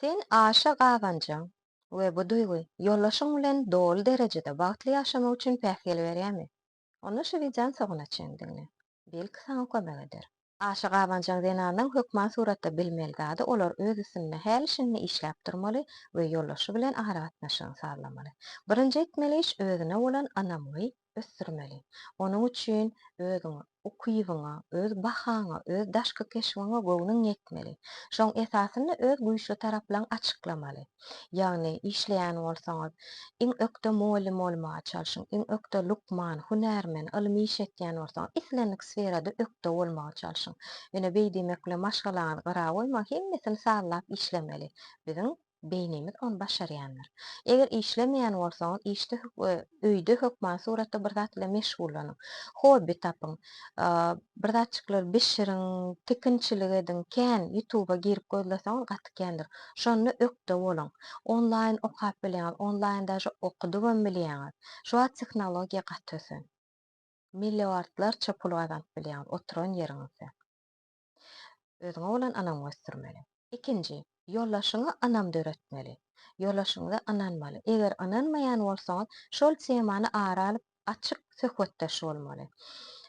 Sen aşa gazanjaň we bu duýgy ýoldaşyň bilen doly derejede bagtly ýaşamak üçin päsgel berýärmi? Onda şu wideony soňuna çenli diňle. Belki saňa kömek eder. Aşa gazanjaň zenanlaryň hökman suratda bilmeli zady olar öz üstünde häli-şindi işläp durmaly we ýoldaşy bilen aragatnaşygyny sazlamaly. Birinji etmeli iş özüne bolan ynamly ösdürmeli. Onuň üçin özüňe, ukybyňa, öz bahaňa, öz daşky keşbiňe göwnüň ýetmeli. Şoň esasynda öz güýçli taraplaryňy açyklamaly. Ýagny, işleýän bolsaňyz, iň ökde mugallym bolmaga çalşyň, iň ökde lukman, hünärmen, ylmy iş etýän bolsaňyz, islendik sferada ökde bolmaga çalşyň. Ýöne beý diýmek bilen maşgalaňyzy gyra goýmaň, hemmesini sazlap işlemeli. Biziň beýnimiz ony başarýandyr. Eger işlemeýän bolsaňyz, işde we öýde hökmany suratda bir zat bilen meşgullanyň. Hobbi tapyň. Bir zatjyklary bişiriň, tikinçilik ediň, kän Ýutuba girip gözleseňiz gaty kändir. Şonda ökde boluň. Onlaýyn okap bilýäňiz, onlaýyn daže okudybam bilýäňiz. Şu wagt tehnologiýa gaty ösen. Milliardlarça pul gazanyp bilýäňiz oturan ýeriňizde. Özüňe bolan ynamy ösdürmeli. Ikinji, ýoldaşyňy ynam döretmeli. Ýoldaşyňyza ynanmaly. Eger ynanmaýan bolsaňyz, şol temany ara alyp, açyk söhbetdeş bolmaly.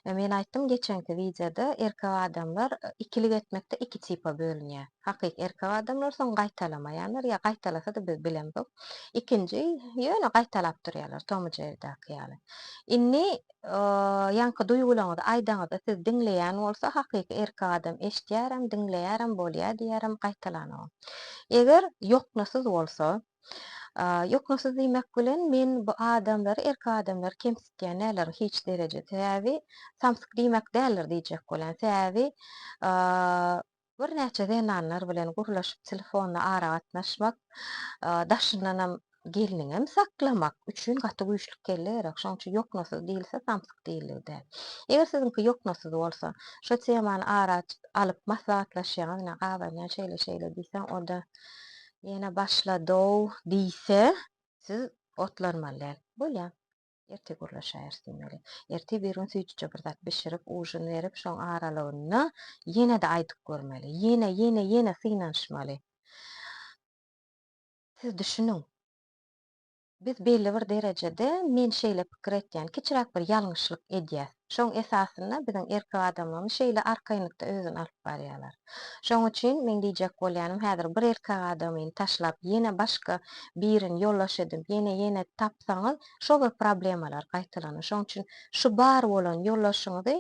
Men aýtdym geçenki wideoda, erkek adamlar ikilik etmekde iki tipa bölünýär. Hakyky erkek adamlar, soň gaýtalamaýanlar, ýa gaýtalasa-da biz bilemzok. Ikinji, ýöne gaýtalap durýarlar, Tom i Jerridäki ýaly. Indi Ýaňky duýgulaňyzy aýdaňyzda siz diňleýän bolsa hakyky erkek adam eşdýärem diňleýärem bolýa diýýärem gaýtalanogam. Eger ýoknasyz bolsa ýoknasyz diýmek bilen men bu adamlary erkek adamlary kemsitýän däldirin hiç dereje sebäbi samsyk diýmek däldir diýjek bolýan sebäbi Birnäçe zenanlar bilen gürleşip telefonda aragatnaşmak, daşyndanam gelniňem saklamak üçin gaty güýçlük kelle gerek. Şonuň üçin ýoknasyz diýilse samsyk diýildigi däl. Eger siziňki ýoknasyz bolsa, şo temany ara alyp maslahatlaşýaňyz, ine gabanýan şeýle-şeýle diýseň, o-da ýene başlady-ow diýse, siz otlanmaly däl. Bolýar. Ertir gürleşäýeris diýmeli. Ertir bir gün süýjüje bir zat bişirip, ujin berip, şoň aralygynda ýene-de aýdyp görmeli. Ýene, ýene, ýene synanyşmaly. Siz düşüniň. Biz belli bir derejede, men şeýle pikir etýän, kiçiräk bir ýalňyşlyk edýäs. Şoň esasynda biziň erkek adamlarymyz şeýle arkaýynlykda özüni alyp barýarlar. Şoň üçin meň diýjek bolýanym häzir bir erkek adamyny taşlap ýene başga birini ýoldaş edinip ýene ýene tapsaňyz şo bir problemalar gaýtalanýar. Şoň üçin şu bar bolan ýoldaşyňyzy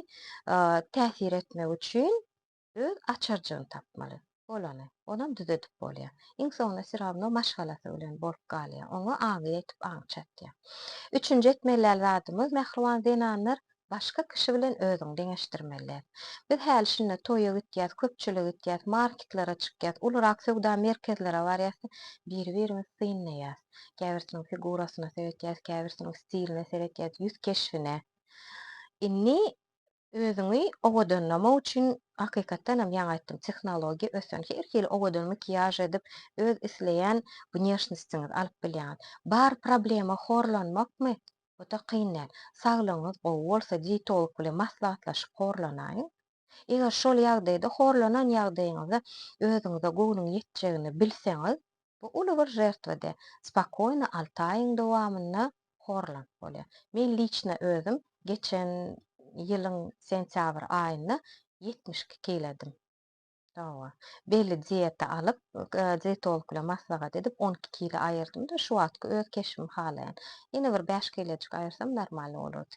täsir etmek üçin Öz açarjygyny tapmaly. Bolany, olam düzedip bolýar. Iň soňunda syrawno maşgalasy bilen bolup galýar. Oňa aňy ýetip aň çatýar. Üçünji etmeliäl zadymyz mähriban zenanlar başga kişi bilen özüňi deňeşdirmeliäs. Biz häli şinda toýa gitýäs, köpçülige gitýäs, marketlere çykýas, ulurak söwda merkezlere barýas-da biri-birimizi synlaýas. Käbirsiniň figurasyna seretýäs, käbirsiniň stiline seretýäs, ýüz keşbine. Indi Özüňi owadanlamak üçin hakykatdan hem ýaňy aýtdym tehnologiýa ösen her hili owadan makiýaž edip öz isleýän wneşnostiňizi alyp bilýäňiz. Bar problema horlanmakmy? Ota kyn däl. Saglygyňyz gowy bolsa dietolog bilen maslahatlaşyp horlanaýyň. Eger şol ýagdaýda horlanan ýagdaýyňyzda özüňize göwnüň ýetjegini bilseňiz, Bu uly bir žertwede spokoýno alty aýyň dowamynda horlanyp bolýar. Men liçno özüm geçen ýylyň sentýabr aýynda ýetmiş iki kiledim. Hawa. Belli dieta alyp, dietolog bilen maslahat edip on iki kile aýyrdym-da, şu wagtky öz keşbimi halaýan. Ýene bir bäş kilejik aýyrsam normalny bolardy.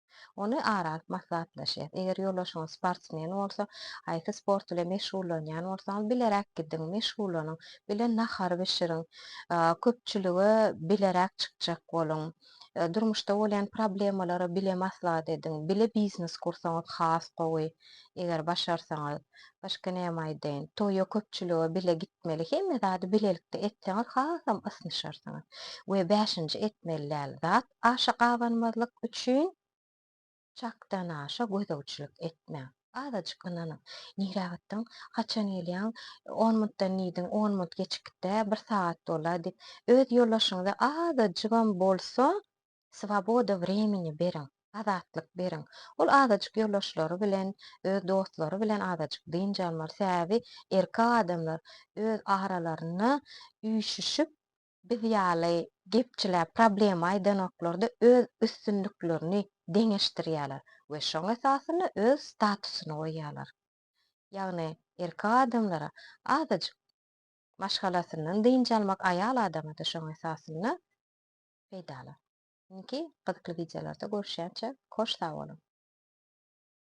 Ony ara alyp maslahatlaşýas. Eger ýoldaşyňyz sportsmen bolsa, haýsy sport bilen meşgullanýan bolsaňyz, bileräk gidiň, meşgullanyň, bile nahar bişiriň, köpçülige bileräk çykjak boluň, durmuşda bolýan problemalary bile maslahat ediň, bile biznes gursaňyz has gowy, eger başarsaňyz. Başga näme aýdaýyn? Toýa, köpçülige bile gitmeli, hemme zady bilelikde etseňiz hasam ysnyşarsyňyz. We bäşinji etmeli däl zat, Aşa gabanmazlyk üçin çakdanaşa gözegçilik etmäň. Azajyk ynanyň. Nirä gitdiň? Haçan gelýäň? On mintden diýdiň, on mint geçip git-dä, bir sagat bol-a diýip, öz ýoldaşyňyza azajygam bolsa swoboda wremeni beriň, azatlyk beriň. Ol azajyk ýoldaşlary bilen, öz dostlary bilen azajyk dynç almaly. Sebäbi erkek adamlar öz aralarynda üýşüşip, Biz ýaly gepçiler problema aýdanoklarda öz üstünliklerini deňeşdirýärler we şoň esasynda öz statusyny goýýarlar. Ýagny erkek adamlara azajyk maşgalasyndan dynç almak aýal adama-da şoň esasynda peýdaly. Indiki gyzykly wideolarda görüşýänçä hoş sag boluň.